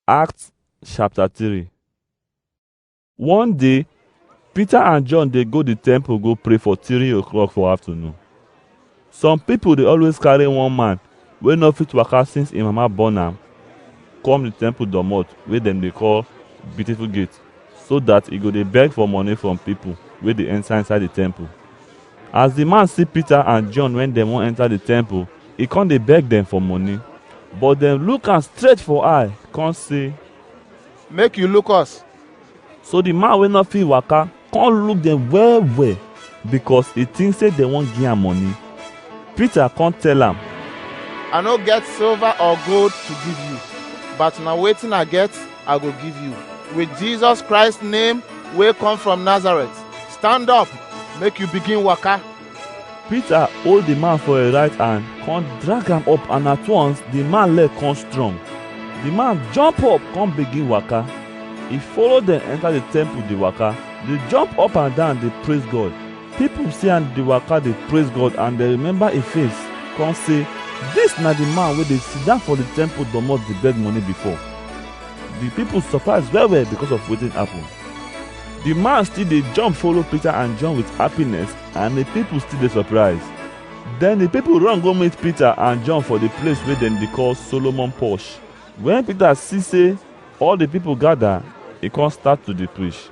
Acts chapter 3 One day, Peter and John dey go the temple go pray for three o'clock for afternoon. Some people dey always carry one man wey no fit waka since im mama born am come the temple domot wey dem dey call Beautiful Gate. so dat e go dey beg for money from pipol wey dey enta inside di temple. As di man si Pita and Jon wen dem won enta di temple, e kon dey beg dem for money. But dem luk am straight for eye kon sey. Make yu luk us! So di man wey nor fit waka kon luk dem well-well, bikos e tink sey dem won gi am money. Pita kon tell am. I nor get silva or gold to giv yu, but na wetin I get, I go give you. With Jesus Christ name wey come from Nazareth, stand up, make you begin waka. Peter hold the man for him right hand, come drag am up and at once the man leg come strong. The man jump up come begin waka. He follow dem enter the temple dey waka, dey jump up and down dey praise God. People see am dey waka dey praise God and dem remember him face come say, This na the man wey dey sit down for the temple domot dey beg money before. The people surprise well well because of wetin happen. The man still dey jump follow Peter and John with happiness and the people still dey surprise. Then the people run go meet Peter and John for the place wey dem dey call Solomon Porch. When Peter see say all the people gather, he come start to dey preach.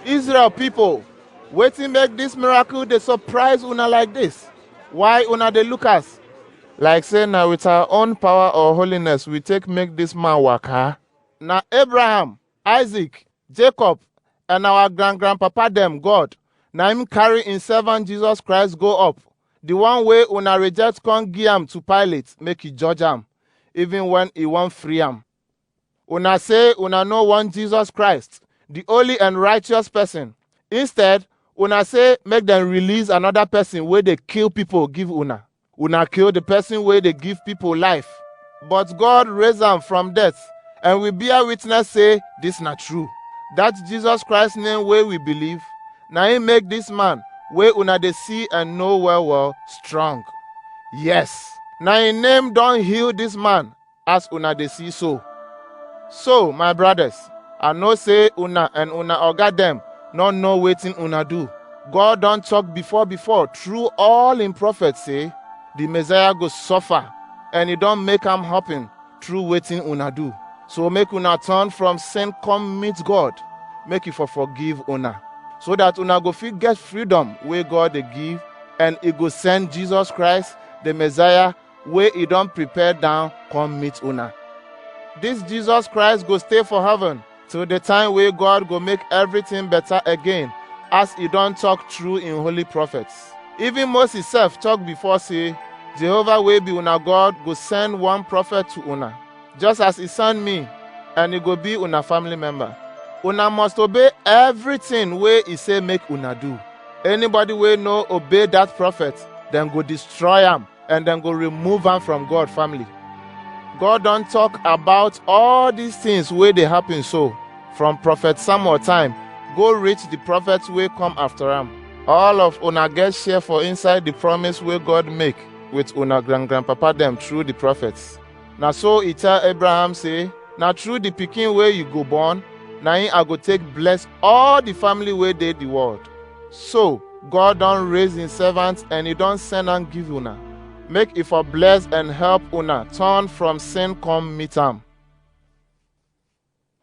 Israel people, Wetin make dis miracle dey surprise una like dis? Why una dey look us? Like say na with our own power or holiness we take make dis man waka. Na Abraham, Isaac, Jacob, and our grand grandpapa dem God na him carry him servant Jesus Christ go up, the one wey una reject come give am to Pilate make he judge am, even when he wan free am. Una say una no want Jesus Christ, the holy and righteous person. Instead, una say make dem release another person wey dey kill people give una. Una kill the person wey dey give people life. But God raise am from death, and we bear witness say this na true. That Jesus Christ name wey we believe, na him make this man wey una dey see and know well well strong. Yes, na him name don heal this man as una dey see so. So, my brothers, I know say una and una oga dem no know wetin una do. God don talk before before through all im prophets say the Messiah go suffer and e don make am happen through wetin una do. So make una turn from sin come meet God, make e for forgive una, so that una go fit get freedom wey God dey give and e go send Jesus Christ, the Messiah wey e don prepare down come meet una. This Jesus Christ go stay for heaven till the time wey God go make everything better again as e don talk through im holy prophets. Even Moses sef talk before say Jehovah wey be una God go send one prophet to una just as e send me and e go be una family member. Una must obey everything wey e say make una do. Anybody wey no obey that prophet, dem go destroy am. and dem go remove am from God family. God don talk about all these things wey dey happen so from prophet Samuel time go reach the prophets wey come after am. All of una get share for inside the promise wey God make with una grand grandpapa dem through the prophets. Na so e tell Abraham say, Na through the pikin wey you go born, na him I go take bless all the family wey dey the world. So God don raise him servant and he don send am give una. Make e for bless and help una turn from sin come meet am.